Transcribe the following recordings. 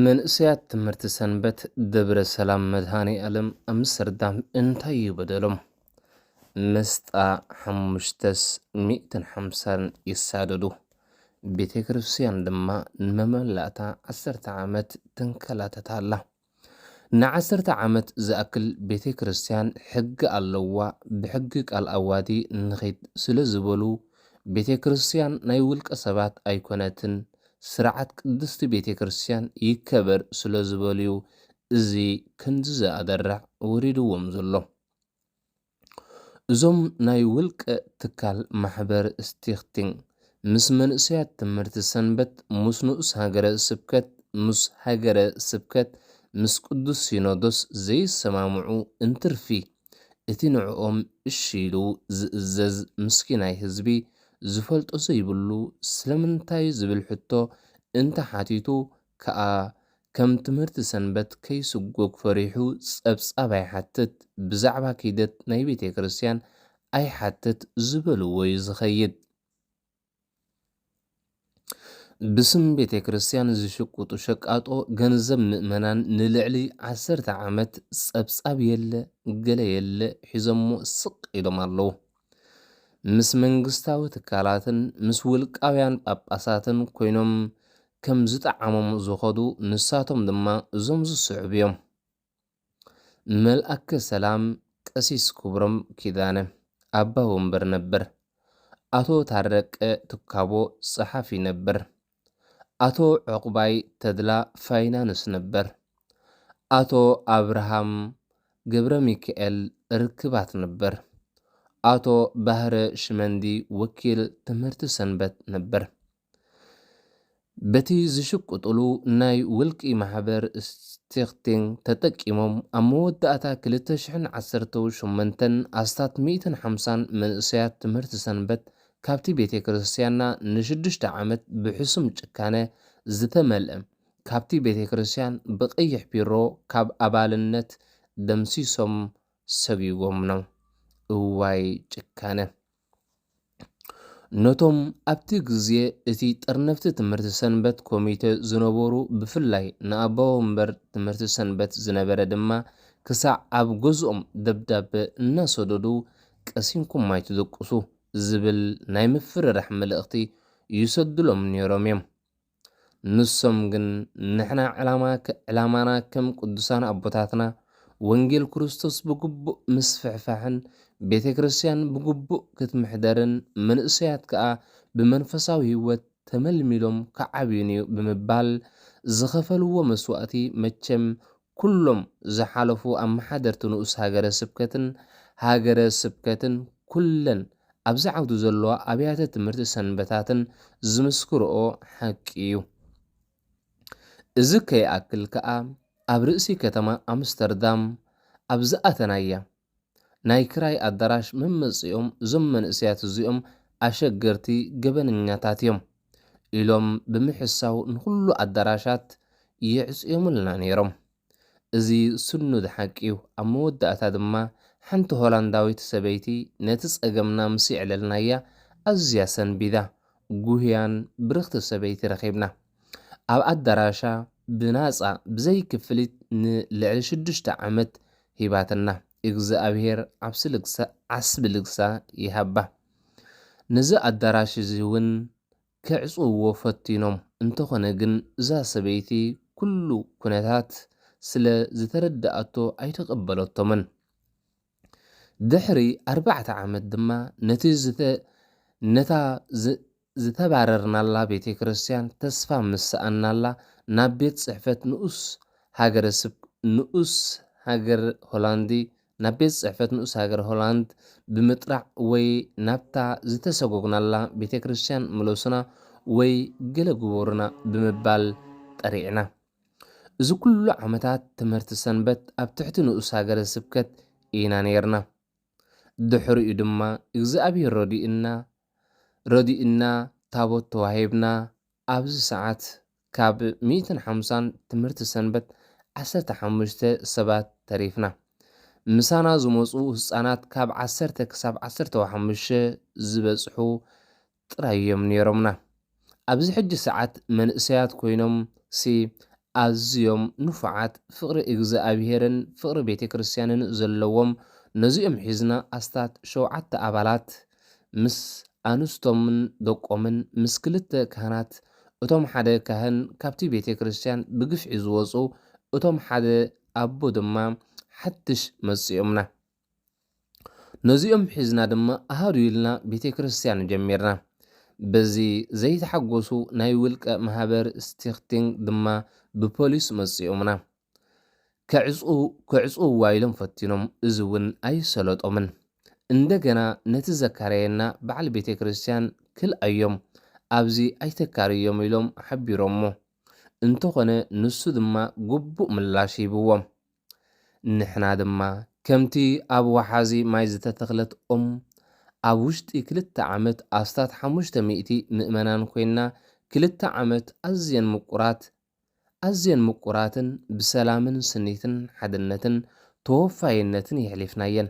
መንእሰያት ትምህርቲ ሰንበት ደብረ ሰላም መድሃኔ ኣለም ኣምስተርዳም እንታይ እዩ በደሎም? መስጣ ሓሙሽተስ ሚእትን ሓምሳን ይሳደዱ፣ ቤተ ክርስቲያን ድማ ንመመላእታ ዓሰርተ ዓመት ተንከላተት ኣላ። ንዓሰርተ ዓመት ዝኣክል ቤተ ክርስትያን ሕጊ ኣለዋ ብሕጊ ቃል ኣዋዲ ንኺድ ስለ ዝበሉ ቤተ ክርስትያን ናይ ውልቀ ሰባት ኣይኮነትን ስርዓት ቅድስቲ ቤተ ክርስትያን ይከበር ስለ ዝበሉዩ እዚ ክንድዚ ኣደራዕ ወሪድዎም ዘሎ። እዞም ናይ ውልቀ ትካል ማሕበር ስቲክቲንግ ምስ መንእሰያት ትምህርቲ ሰንበት ምስ ንኡስ ሃገረ ስብከት ምስ ሃገረ ስብከት ምስ ቅዱስ ሲኖዶስ ዘይሰማምዑ እንትርፊ እቲ ንዕኦም እሺ ኢሉ ዝእዘዝ ምስኪናይ ህዝቢ ዝፈልጦ ዘይብሉ ስለምንታይ ዝብል ሕቶ እንተሓቲቱ ከኣ ከም ትምህርቲ ሰንበት ከይስጎግ ፈሪሑ ጸብጻብ ኣይሓትት፣ ብዛዕባ ኪደት ናይ ቤተ ክርስቲያን ኣይሓትት ዝበልዎ'ዩ ዝኸይድ። ብስም ቤተ ክርስቲያን ዝሽቁጡ ሸቃጦ ገንዘብ ምእመናን ንልዕሊ ዓሰርተ ዓመት ጸብጻብ የለ ገለ የለ ሒዞሞ ስቅ ኢሎም ኣለዉ። ምስ መንግስታዊ ትካላትን ምስ ውልቃውያን ጳጳሳትን ኮይኖም ከም ዝጠዓሞም ዝኸዱ ንሳቶም ድማ እዞም ዝስዕቡ እዮም። መልኣከ ሰላም ቀሲስ ክብሮም ኪዳነ፣ ኣባ ወንበር ነበር፣ ኣቶ ታረቀ ትካቦ ጸሓፊ ነበር፣ ኣቶ ዑቕባይ ተድላ ፋይናንስ ነበር። ኣቶ ኣብርሃም ገብረሚካኤል ርክባት ነበር። ኣቶ ባህረ ሽመንዲ ወኪል ትምህርቲ ሰንበት ነበር። በቲ ዝሽቅጡሉ ናይ ውልቂ ማሕበር ስቲክቲንግ ተጠቂሞም ኣብ መወዳእታ ክልተ ሽሕን ዓሰርተው ሸሞንተን ኣስታት ሚእትን ሓምሳን መንእሰያት ትምህርቲ ሰንበት ካብቲ ቤቴክርስትያንና ንሽዱሽተ ዓመት ብሕሱም ጭካነ ዝተመልእም ካብቲ ቤቴክርስትያን ብቀይሕ ፒሮ ካብ ኣባልነት ደምሲሶም ሰጉጎምኖም እዋይ ጭካነ ነቶም ኣብቲ ግዜ እቲ ጥርንፍቲ ትምህርቲ ሰንበት ኮሚቴ ዝነበሩ ብፍላይ ንኣቦወንበር ትምህርቲ ሰንበት ዝነበረ ድማ ክሳዕ ኣብ ገዝኦም ደብዳበ እናሰደዱ ቀሲንኩም ኣይትደቁሱ ዝብል ናይ ምፍርራሕ መልእኽቲ ይሰዱሎም ነይሮም እዮም። ንሶም ግን ንሕና ዕላማና ከም ቅዱሳን ኣቦታትና ወንጌል ክርስቶስ ብግቡእ ምስፍሕፋሕን ቤተ ክርስቲያን ብግቡእ ክትምሕደርን መንእሰያት ከኣ ብመንፈሳዊ ሕይወት ተመልሚሎም ክዓብዩን'ዩ ብምባል ዝኸፈልዎ መስዋእቲ መቸም ኩሎም ዝሓለፉ ኣመሓደርቲ ንኡስ ሃገረ ስብከትን ሃገረ ስብከትን ኩለን ኣብዚ ዓውዲ ዘለዋ ኣብያተ ትምህርቲ ሰንበታትን ዝምስክርኦ ሓቂ እዩ። እዚ ከይኣክል ከኣ ኣብ ርእሲ ከተማ ኣምስተርዳም ኣብ ዝኣተናያ፣ ናይ ክራይ ኣዳራሽ መመጽእኦም እዞም መንእሰያት እዚኦም ኣሸገርቲ ገበነኛታት እዮም ኢሎም ብምሕሳው ንኹሉ ኣዳራሻት የዕጽዮምልና ነይሮም። እዚ ስኑድ ሓቂ እዩ። ኣብ መወዳእታ ድማ ሓንቲ ሆላንዳዊት ሰበይቲ ነቲ ጸገምና ምስ የዕለልናያ ኣዝያ ሰንቢዳ፣ ጉህያን ብርኽቲ ሰበይቲ ረኺብና። ኣብ ኣዳራሻ ብናጻ ብዘይ ክፍሊት ንልዕሊ ሽዱሽተ ዓመት ሂባትና ኢግዝኣብሄር ዓብሲ ልግሳ ዓስቢ ልግሳ ይሃባ ነዚ ኣዳራሽ እዚ ውን ክዕጽውዎ ፈቲኖም እንተኮነ ግን እዛ ሰበይቲ ኩሉ ኩነታት ስለ ዝተረደኣቶ ኣይተቀበለቶምን ድሕሪ ኣርባዕተ ዓመት ድማ ነቲ ዝተ ነታ ዝተባረርናላ ቤተ ክርስቲያን ተስፋ ምስ ሰኣንናላ ናብ ቤት ጽሕፈት ንኡስ ሃገረ ስብ ንኡስ ሃገር ሆላንዲ ናብ ቤት ጽሕፈት ንኡስ ሃገር ሆላንድ ብምጥራዕ ወይ ናብታ ዝተሰጎግናላ ቤተ ክርስቲያን ምለሱና ወይ ገለ ግበሩና ብምባል ጠሪዕና እዚ ኩሉ ዓመታት ትምህርቲ ሰንበት ኣብ ትሕቲ ንኡስ ሃገረ ስብከት ኢና ኔርና ድሕሪኡ ድማ እግዚኣብሔር ረዲኡና ረዲኡና ታቦት ተዋሂብና ኣብዚ ሰዓት ካብ ሚእትን ሓምሳን ትምህርቲ ሰንበት ዓሰርተ ሓሙሽተ ሰባት ተሪፍና ምሳና ዝመፁ ህፃናት ካብ ዓሰርተ ክሳብ ዓሰርተው ሓሙሽተ ዝበፅሑ ጥራይ እዮም ነይሮምና። ኣብዚ ሕጂ ሰዓት መንእሰያት ኮይኖም ሲ ኣዝዮም ንፉዓት ፍቅሪ እግዝኣብሄርን ፍቅሪ ቤተክርስትያንን ዘለዎም ነዚኦም ሒዝና ኣስታት ሸውዓተ ኣባላት ምስ ኣንስቶምን ደቆምን ምስ ክልተ ካህናት እቶም ሓደ ካህን ካብቲ ቤተክርስትያን ብግፍዒ ዝወጹ እቶም ሓደ ኣቦ ድማ ሓድሽ መጺኦምና ነዚኦም ሒዝና ድማ ኣሃዱ ኢልና ቤተ ክርስቲያን ጀሚርና። በዚ ዘይተሓጎሱ ናይ ውልቀ ማህበር ስቲክቲንግ ድማ ብፖሊስ መጺኦምና። ከዕጽውዋ ኢሎም ፈቲኖም እዚ እውን ኣይሰለጦምን። እንደገና ነቲ ዘካረየና በዓል ቤተ ክርስቲያን ክልኣዮም ኣብዚ ኣይተካርዮም ኢሎም ሓቢሮሞ። እንተኾነ ንሱ ድማ ግቡእ ምላሽ ሂብዎም። ንሕና ድማ ከምቲ ኣብ ወሓዚ ማይ ዝተተኽለት ኦም፣ ኣብ ውሽጢ ክልተ ዓመት ኣስታት ሓሙሽተ ሚእቲ ምእመናን ኮይንና ክልተ ዓመት ኣዝየን ምቁራት ኣዝየን ምቁራትን ብሰላምን ስኒትን ሓድነትን ተወፋይነትን የሕሊፍናየን።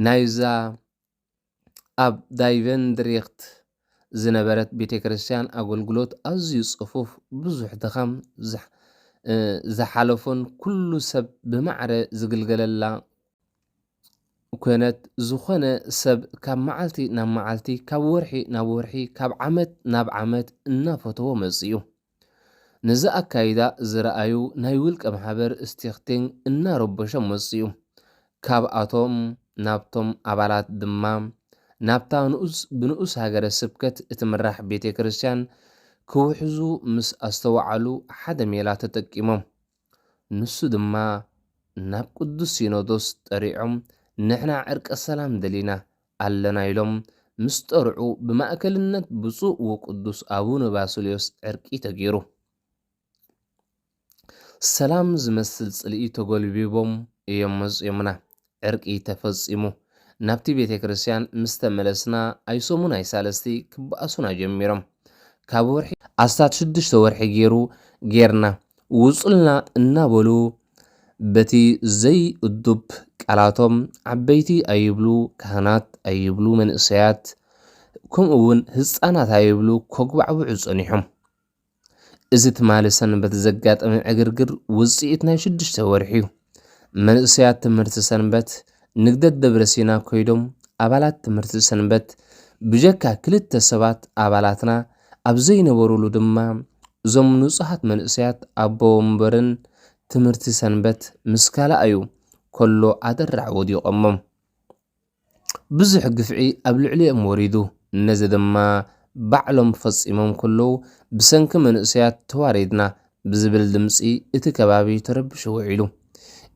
ናይዛ ኣብ ዳይቨንድሪክት ዝነበረት ቤተክርስትያን ኣገልግሎት ኣዝዩ ጽፉፍ፣ ብዙሕ ድኻም ዝሓለፎን ኩሉ ሰብ ብማዕረ ዝግልገለላ ኮነት። ዝኾነ ሰብ ካብ መዓልቲ ናብ መዓልቲ፣ ካብ ወርሒ ናብ ወርሒ፣ ካብ ዓመት ናብ ዓመት እናፈተዎ መጺኡ። ነዚ ኣካይዳ ዝረኣዩ ናይ ውልቀ ማሕበር ስቲክቲንግ እናረበሾም መፅኡ። ካብኣቶም ናብቶም ኣባላት ድማ ናብታ ብንኡስ ሃገረ ስብከት እትምራሕ ቤተ ክርስቲያን ክውሕዙ ምስ ኣስተውዓሉ ሓደ ሜላ ተጠቂሞም። ንሱ ድማ ናብ ቅዱስ ሲኖዶስ ጠሪዖም ንሕና ዕርቀ ሰላም ደሊና ኣለና ኢሎም ምስ ጠርዑ ብማእከልነት ብፁዕ ወቅዱስ ኣቡነ ባስልዮስ ዕርቂ ተገይሩ ሰላም ዝመስል ጽልኢ ተጎልቢቦም እዮም መጺኦምና ዕርቂ ተፈጺሙ ናብቲ ቤተ ክርስቲያን ምስ ተመለስና ኣይሰሙን ኣይሳልስቲ ክበኣሱና ጀሚሮም ካብ ወርሒ ኣስታት ሽዱሽተ ወርሒ ጌሩ ጌርና ውጹልና እናበሉ በቲ ዘይእዱብ ቃላቶም ዓበይቲ ኣይብሉ ካህናት ኣይብሉ መንእሰያት ከምኡ ውን ህጻናት ኣይብሉ ከጉባዕብዑ ጸኒሖም። እዚ ትማሊ ሰንበት ዘጋጠመ ዕግርግር ውፅኢት ናይ ሽዱሽተ ወርሒ እዩ። መንእሰያት ትምህርቲ ሰንበት ንግደት ደብረ ሲና ኮይዶም ኣባላት ትምህርቲ ሰንበት ብጀካ ክልተ ሰባት ኣባላትና ኣብ ዘይነበሩሉ ድማ እዞም ንጹሃት መንእሰያት ኣቦ ወንበርን ትምህርቲ ሰንበት ምስ ካልኣዩ ከሎ ኣደራዕ ወዲቖሞም። ብዙሕ ግፍዒ ኣብ ልዕሊኦም ወሪዱ፣ ነዚ ድማ ባዕሎም ፈጺሞም ከለዉ፣ ብሰንኪ መንእሰያት ተዋሪድና ብዝብል ድምጺ እቲ ከባቢ ተረቢሹ ውዒሉ።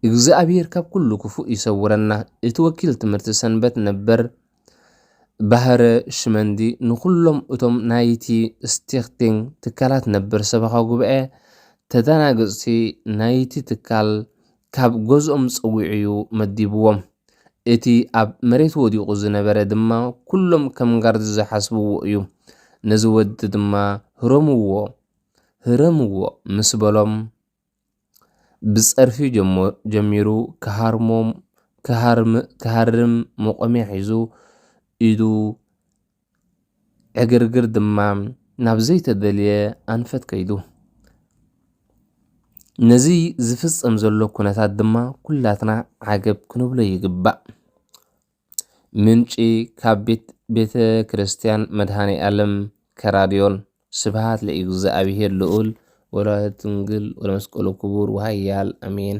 እግዚኣብሄር ካብ ኩሉ ክፉእ ይሰውረና እቲ ወኪል ትምህርቲ ሰንበት ነበር ባህረ ሽመንዲ ንኹሎም እቶም ናይቲ ስቲክቲንግ ትካላት ነበር ሰበኻ ጉባኤ ተዳናገጽቲ ናይቲ ትካል ካብ ገዝኦም ጸዊዑ'ዩ መዲብዎም። እቲ ኣብ መሬት ወዲቑ ዝነበረ ድማ ኩሎም ከም ጋርድ ዝሓስብዎ እዩ። ነዚ ወዲ ድማ ህረምዎ ህረምዎ ምስ በሎም ብጸርፊ ጀሚሩ ክሃርሞም ክሃርም መቖሚያ ሒዙ ኢዱ ዕግርግር ድማ ናብ ዘይተደልየ ኣንፈት ከይዱ። ነዚ ዝፍጸም ዘሎ ኩነታት ድማ ኩላትና ዓገብ ክንብሎ ይግባእ። ምንጪ ካብ ቤት ቤተ ክርስቲያን መድሃኔ ዓለም ከራዲዮን ስብሃት ለእግዚኣብሔር ልዑል ወላዲቱ ድንግል ወለመስቀሉ ክቡር ወሃያል ኣሜን።